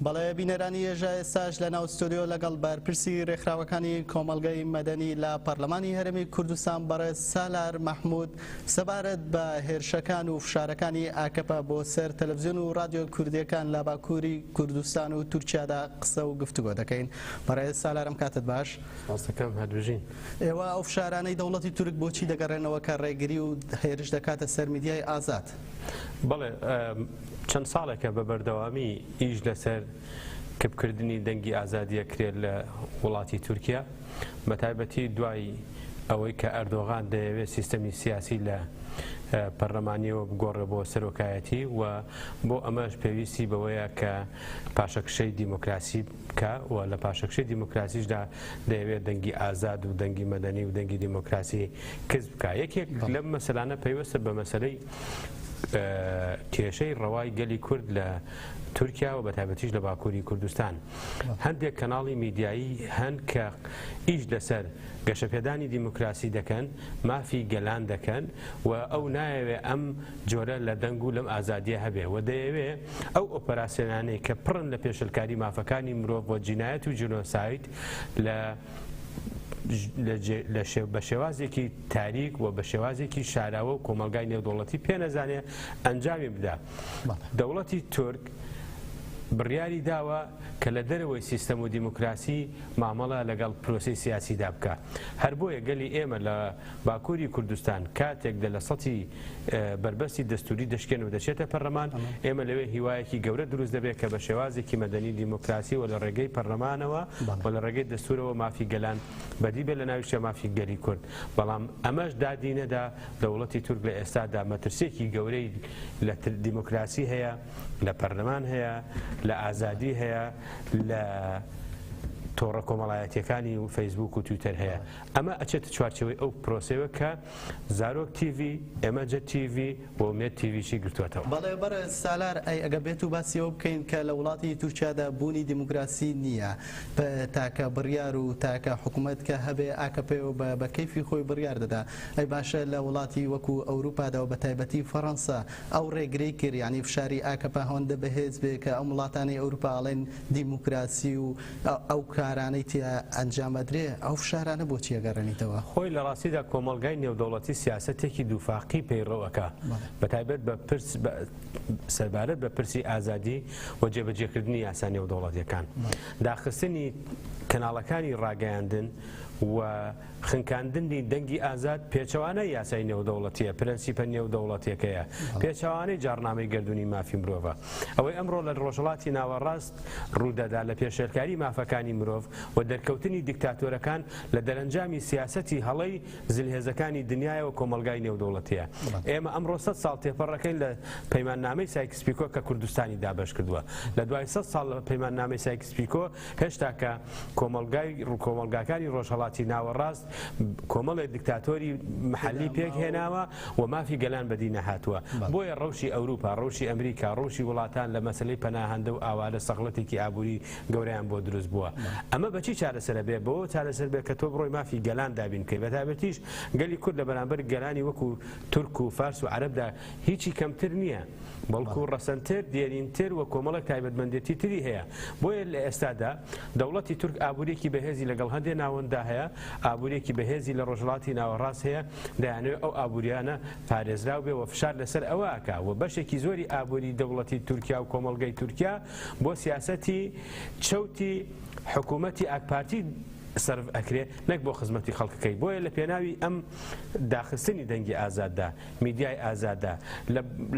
بەڵێ بینەرانی یەژا ئێستاش لە ناو ستۆدیۆ لەگەڵ بەرپرسی رێکخراوەکانی کۆمەڵگەی مەدەنی لە پەرلەمانی هەرێمی کوردستان بەڕێز سالار مەحمود سەبارەت بە هێرشەکان و فشارەکانی ئاکەپە بۆ سەر تەلەڤزیۆن و رادیۆ کوردیەکان لە باکووری کوردستان و تورکیادا قسە و گفتوگۆ دەکەین بەڕێز سالارم کاتت باش ڕاستەکەم هەدوژین ئێوە ئەو فشارانەی دەوڵەتی تورک بۆچی دەگەڕێنەوە کە ڕێگری و هێرش دەکاتە سەر میدیای ئازاد بەڵێ چەند ساڵێکە بە بەردەوامی ئیش لەسەر کپکردنی دەنگی ئازادی ئەکرێت لە وڵاتی تورکیا، بەتایبەتی دوای ئەوەی کە ئەردۆغان دەیەوێت سیستەمی سیاسی لە پەرلەمانیەوە بگۆڕێت بۆ سەرۆکایەتی و بۆ ئەمەش پێویستی بەوەیە کە پاشەکشەی دیموکراسی بکە و لە پاشەکشەی دیموکراسیشدا دەیەوێت دەنگی ئازاد و دەنگی مەدەنی و دەنگی دیموکراسی کز بکە یەکێک لەم مەسەلانە پەیوەستە بە مەسەلەی کێشەی ڕەوای گەلی کورد لە تورکیا و بەتابەتیش لە باکووری کوردستان هەندێک کەناڵی میدیایی هەن کە ئیش لەسەر گەشەپێدانی دیموکراسی دەکەن مافی گەلان دەکەن و ئەو نایەوێ ئەم جۆرە لە دەنگ و لەم ئازادیە هەبێ و دەیەوێ ئەو ئۆپەراسسیۆنانەی کە پڕن لە پێشلکاری مافەکانی مرۆڤ و جینایەت و جنۆسایت لە بە شێوازێکی تاریک و بە شێوازێکی شاراوە و کۆمەلگای نێودوڵەتی پێ نەزانێ ئەنجامی بدا دەوڵەتی تورک بڕیاری داوە کە لە دەرەوەی سیستەم و دیموکراسی مامەڵە لەگەڵ پرۆسی سیاسیدا بکە هەر بۆیە گەلی ئێمە لە باکوری کوردستان کاتێک دە لە سەتی بەربەستی دەستوری دەشکێن و دەچێتە پەرلەمان ئێمە لەوێ هیوایەکی گەورە دروست دەبێت کە بە شێوازێکی مەدەنی دیموکراسی و لە ڕێگەی پەرلەمانەوە و لە ڕێگەی دەستورەوە مافی گەلان بەدی بێ لە ناویشە مافی گەلی کورد بەڵام ئەمەش دادی نەدا دەوڵەتی تورک لە ئێستادا مەترسێکی گەورەی لە دیموکراسی هەیە لە پەرلەمان هەیە لە ئازادی هەیە لە تۆڕە کۆمەڵایەتەکانی و فەیسبوک و تویتەر هەیە ئەمە ئەچێتە چوارچەوەی ئەو پرۆسەیەوە کە زارۆک تیڤی، ئێمەجە تیڤی و مێد تیڤیشی گرتووەتەوە. بەڵێ بەڕێز سالار، ئەی ئەگەر بێتو باسی ئەوە بکەین کە لە وڵاتی تورکیادا بوونی دیموکراسی نییە، بە تاکە بڕیار و تاکە حکومەت کە هەبێ ئاکەپەیە و بە کەیفی خۆی بڕیار دەدا، ئەی باشە لە وڵاتی وەکو ئەوروپادا و بەتایبەتی فەڕەنسا ئەو ڕێگرەی کرد یانی فشاری ئاکەپە هەوەندە بەهێز بێ کە ئەم وڵاتانەی ئەوروپا ئەڵێن دیموکراسی و ئەو کارانەی تیا ئەنجام ئەدرێ ئەو فشارانە بۆچی ئەگەڕێنیتەوە؟ خۆی لە ڕاستیدا کۆمەڵگای نێودەوڵەتی سیاسەتێکی دووفاقی پەیڕەو ئەکا بە تایبەت بە پرس سەربارەت بە پرسی ئازادی و جێبەجێکردنی یاسا نێودەوڵەتیەکان داخستنی کەناڵەکانی ڕاگەیاندن و خنکاندنی دەنگی ئازاد پێچەوانە یاسای نێودەوڵەتیە پرەنسیپە نێودەوڵەتەکەیە پێچوانەی جاڕنامەی گردردونی مافی مرۆڤە ئەوەی ئەمڕۆ لە ڕۆژهڵاتی ناوەڕاست ڕوودەدا لە پێشێلکاری مافەکانی مرۆڤ و دەرکەوتنی دیکتاتۆرەکان لە دەرەنجامی سیاسەتی هەڵەی زلهێزەکانی دنیایەوە کۆمەڵگای نێودەوڵەتیە ئێمە ئەمڕۆ سەد ساڵ تێپەڕەکەین لە پەیماننامەی سایکس پیکۆ کە کوردستانی دابەش کردووە لە دوای سەد ساڵ لە پەیماننامەی سایکس پیکۆ هێشتا کە کۆمەڵگای ڕووکۆمەڵگاکانی ڕۆژهەڵاتی ناوەڕاست کۆمەڵێ دکتاتۆری محلی پێک هێناوە و مافی گەلان بەدی نەهاتووە بۆیە ڕەوشی ئەوروپا ڕەوشی ئەمریکا ڕوشی وڵاتان لە مەسلی پەناهندە و ئاوارە سەغڵەتێکی ئابووری گەوریان بۆ دروست بووە ئەمە بەچی چارەسەرە بێ بۆ چارەسەر بێ کە تۆ بڕۆی مافی گەلان دابین بکەی بەتابەتیش گەلی کورد لە بەرامبەر گەلانی وەکو تورک و فارس و عربدا هیچی کەمتر نییە، بەڵکو ڕەسەنتر، دێرینتر و کۆمەڵێک تایبەتمەندێتی تری هەیە. بۆیە لە ئێستادا دەوڵەتی تورک ئابوورییەکی بەهێزی لەگەڵ هەندێ ناوەنددا هەیە، ئابوورییەکی بەهێزی لە ڕۆژهەڵاتی ناوەڕاست هەیە، دەیانەوێ ئەو ئابوورییانە پارێزراو بێ و فشار لەسەر ئەوە ئەکا و بەشێکی زۆری ئابووریی دەوڵەتی تورکیا و کۆمەڵگەی تورکیا بۆ سیاسەتی چەوتی حکوومەتی ئاکپارتی سەرف ئەکرێ نەک بۆ خزمەتی خەڵکەکەی. بۆیە لە پێناوی ئەم داخستنی دەنگی ئازاددا، میدیای ئازادە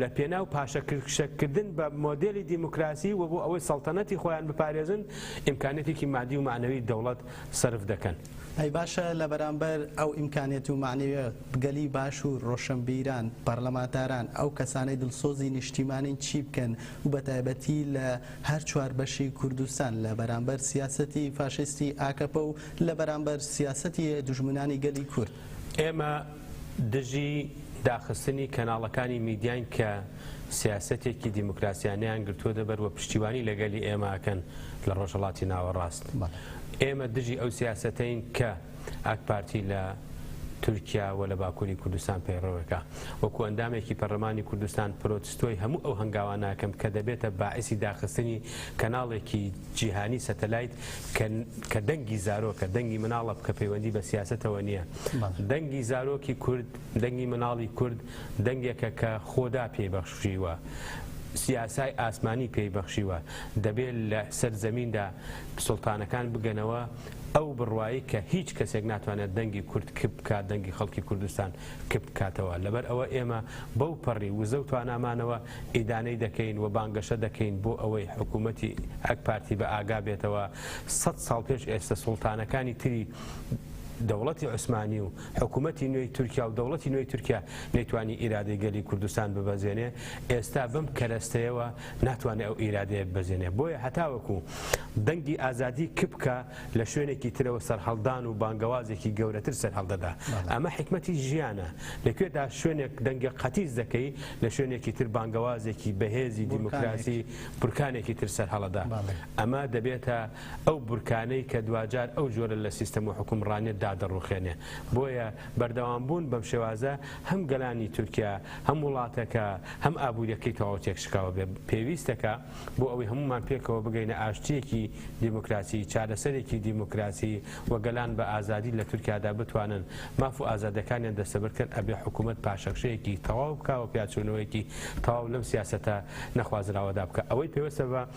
لە پێناو پاشەکشەکردن بە مۆدێلی دیموکراسی و بۆ ئەوەی سەڵتەنەتی خۆیان بپارێزن ئیمکانێتێکی مادی و معنەوی دەوڵەت سەرف دەکەن. ئەی باشە لە بەرامبەر ئەو ئیمکانێت و معنەویە گەلی باشور، ڕۆشەنبیران، پەرلەمانتاران، ئەو کەسانەی دڵسۆزی نیشتیمانین چی بکەن و بە تایبەتی لە هەر چوار بەشی کوردستان لە بەرامبەر سیاسەتی فاشیستی ئاکەپە و لە بەرامبەر سیاسەتی دوژمنانی گەلی کورد؟ ئێمە دژی داخستنی کەناڵەکانی میدیاین کە سیاسەتێکی دیموکراسیانەیان گرتووەتە بەر و پشتیوانی لەگەلی ئێمە ئەکەن لە ڕۆژهەڵاتی ناوەڕاست. ئێمە دژی ئەو سیاسەتەین کە ئاکپارتی لە تورکیا و لە باکووری کوردستان پەیڕەوەکا. وەکو ئەندامێکی پەرلەمانی کوردستان پرۆتستۆی هەموو ئەو هەنگاوانە ئەکەم کە دەبێتە باعیسی داخستنی کەناڵێکی جیهانی سەتەلایت کە دەنگی زارۆکە، دەنگی مناڵە کە پەیوەندی بە سیاسەتەوە نییە. دەنگی زارۆکی کورد، دەنگی مناڵی کورد، دەنگێکە کە خۆدا پێی بەخشیوە، یاسای ئاسمانی پێی بەخشیوە، دەبێ لە سەر زەمیندا سوڵتانەکان بگەنەوە ئەو بڕوایەی کە هیچ کەسێک ناتوانێت دەنگی کورد کپ بکات، دەنگی خەڵکی کوردستان کپ بکاتەوە، لەبەر ئەوە ئێمە بەو پەڕی وزە و توانامانەوە ئیدانەی دەکەین و بانگەشە دەکەین بۆ ئەوەی حکوومەتی ئاکپارتی بە ئاگا بێتەوە سەد ساڵ پێش ئێستە سوڵتانەکانی تری دەوڵەتی عوسمانی و حکومەتی نوێی تورکیا و دەوڵەتی نوێی تورکیا نەیتوانی ئیرادەی گەلی کوردستان ببەزێنێ ئێستا بەم کەرەستەیەوە ناتوانێت ئەو ئیرادەیە ببەزێنێ بۆیە هەتاوەکو دەنگی ئازادی کپکە لە شوێنێکی ترەوە سەرهەڵدان و بانگەوازێکی گەورەتر سەرهەڵدەدا ئەمە حکمەتی ژیانە لەکوێدا شوێنێک دەنگە قەتیس دەکەی لە شوێنێکی تر بانگەوازێکی بەهێزی دیموکراسی بورکانێکی تر سەرهەڵەدا ئەمە دەبێتە ئەو بورکانەی کە دواجار ئەو جۆرە لە سیستەم و حوکمڕانیەت دادەڕوخێنێ. بۆیە بەردەوام بوون بەم شێوازە هەم گەلانی تورکیا، هەم وڵاتەکە، هەم ئابوریەکەی تەواو تێکشکاوە بێ پێویستەکە بۆ ئەوەی هەموومان پێکەوە بگەینە ئاشتیەکی دیموکراسی، چارەسەرێکی دیموکراسی و گەلان بە ئازادی لە تورکیادا بتوانن ماف و ئازادەکانیان دەستەبەر کەن ئەبێ حکومەت پاشەکشەیەکی تەواو بکا و پیاچونەوەیەکی تەواو لەم سیاسەتە نەخوازراوەدا بکا ئەوەی پێوستە بە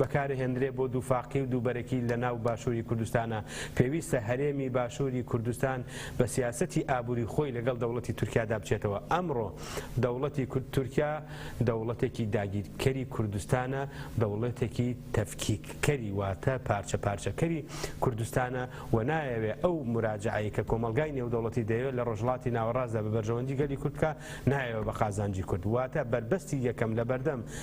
بەکارهێندرێ بۆ دووفاقی و دووبەرەکی لە ناو باشووری کوردستانا، پێویستە هەرێمی باشووری کوردستان بە سیاسەتی ئابووری خۆی لەگەڵ دەوڵەتی تورکیادا بچێتەوە، ئەمڕۆ دەوڵەتی تورکیا دەوڵەتێکی داگیرکەری کوردستانە، دەوڵەتێکی تەفکیککەری واتە پارچە پارچەکەری کوردستانە و نایەوێ ئەو موراجەعەی کە کۆمەڵگای نێودەوڵەتی دەیەوێ لە ڕۆژهەڵاتی ناوەڕاستدا بە بەرژەوەندی گەلی کورد بکا نایەوێ بە قازانجی کورد واتە بەربەستی یەکەم لەبەردەم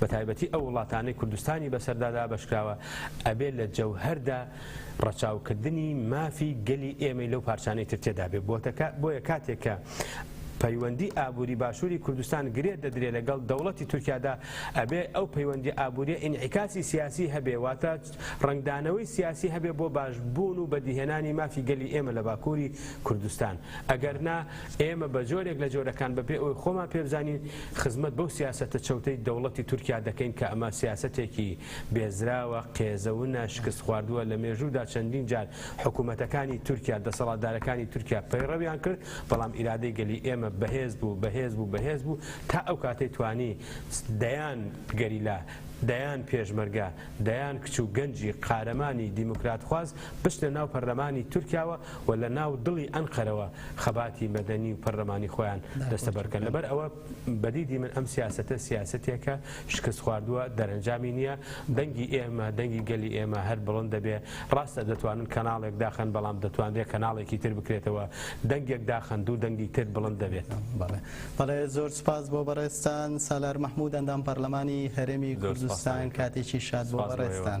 بەتایبەتی ئەو وڵاتانەی کوردستانی بەسەردا دابەشکراوە ئەبێ لە جەوهەردا ڕەچاوکردنی مافی گەلی ئێمەی لەو پارچانەی تر تێدابێ بۆتەکە بۆیە کاتێک کە پەیوەندی ئابووری باشووری کوردستان گرێ دەدرێ لەگەڵ دەوڵەتی تورکیادا ئەبێ ئەو پەیوەندی ئابووریە ئینعیکاسی سیاسی هەبێ واتە ڕەنگدانەوەی سیاسی هەبێ بۆ باش بوون و بەدیهێنانی مافی گەلی ئێمە لە باکووری کوردستان ئەگەر نا ئێمە بە جۆرێک لە جۆرەکان بە پێ ئەوەی خۆمان پێ بزانین خزمەت بەو سیاسەتە چەوتەی دەوڵەتی تورکیا دەکەین کە ئەمە سیاسەتێکی بێزراوە قێزەونە شکست خواردووە لە مێژوودا چەندین جار حکوومەتەکانی تورکیا دەسەڵاتدارەکانی تورکیا پەیڕەویان کرد بەڵام ئیرادەی گەلی ئێمە بەهێز بوو بەهێز بوو بەهێز بوو تا ئەو کاتەی توانی دەیان گەریلا دەیان پێشمەرگە دەیان کچ و گەنجی قارەمانی دیموکراتخواز بچنە ناو پەرلەمانی تورکیاوە و لە ناو دڵی ئەنقەرەوە خەباتی مەدەنی و پەرلەمانی خۆیان دەستەبەر بکەن. لەبەر ئەوە بە دیدی من ئەم سیاسەتە سیاسەتێکە شکستخواردووە، دەرەنجامی نییە، دەنگی ئێمە، دەنگی گەلی ئێمە هەر بڵند دەبێ. ڕاستە دەتوانن کەناڵێک داخەن، بەڵام دەتوانرێ کەناڵێکی تر بکرێتەوە. دەنگێک داخەن، دوو دەنگی تر بڵند دەبێت. بەڵێ زۆر سوپاس بۆ بەڕێزتان. سالار محمود ئەندام پەڕلەمانی هەرێمی کوردستان کاتێکی شاد بۆ بەڕێزتان.